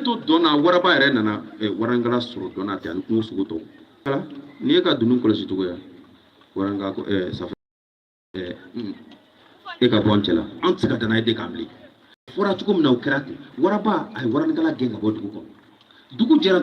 to dɔn na waraba yɛrɛ nana eh, warankala sɔrɔ dɔn na ten ani kungo sogo tɔw k'ala n'i ye ka dunun kɔlɔsi cogoya waranka ko eh, safa eh, mm, e ka bɔ an cɛla an tɛ se ka dannaya d'e kan bilen fɔra cogo min na o kɛra ten waraba a ye warankala gɛn ka bɔ dugu kɔnɔ dugu jɛra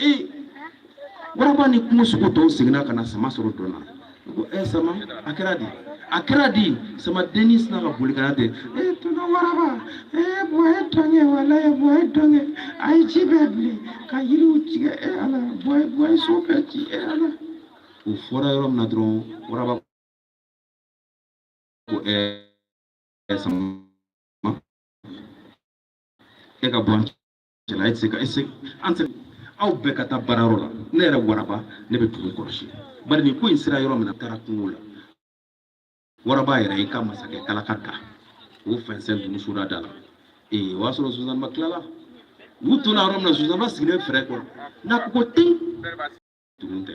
ee waraba ni kungo sogo tɔw seginna ka na sama sɔrɔ dɔn na ko ɛ sama a kɛra di a kɛra di sama denni sinna ka boli ka na ten e tɔnɔ waraba e bɔ ye dɔn kɛ walayi bɔ ye dɔn kɛ a ye ji bɛɛ bilen ka yiriw tigɛ e ala bɔ e bɔ ye so bɛɛ ci e ala o fɔra yɔrɔ min na dɔrɔn waraba ko ɛ sama e ka bɔ an cɛ cɛla e tɛ se ka ese an tɛ aw bɛɛ ka taa baarayɔrɔ la ne yɛrɛ waraba ne bɛ dugu kɔlɔsi bari nin ko in sera yɔrɔ min na taara kungo la waraba yɛrɛ y'i ka masakɛ kalaka da o fɛnsɛn dugu soda da la ee o y'a sɔrɔ zonzanba tilala u tora yɔrɔ min na zonzanba sigilen bɛ fɛrɛ kɔrɔ n'a ko ko ten dugu tɛ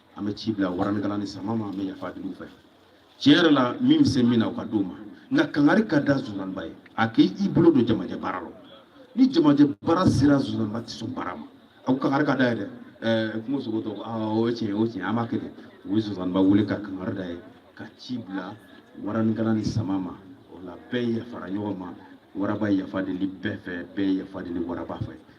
an bɛ ci bila waranikala ni sama ma an bɛ yafa deli u fɛ tiɲɛ yɛrɛ la min bɛ se min na o ka d'o ma nka kangari ka da zonzaniba ye a k'i bolo don jamajɛ baara la ni jamajɛ baara sera zonzaniba tɛ sɔn baara ma a ko kangari ka d'a ye dɛ ɛɛ kungo sogo tɔw ko aa o ye tiɲɛ ye o ye tiɲɛ ye an b'a kɛ ten u ye zonzaniba wele ka kangari d'a ye ka ci bila waranikala ni sama ma o la bɛɛ yafara ɲɔgɔn ma waraba yafa deli bɛɛ fɛ bɛɛ yafa deli waraba fɛ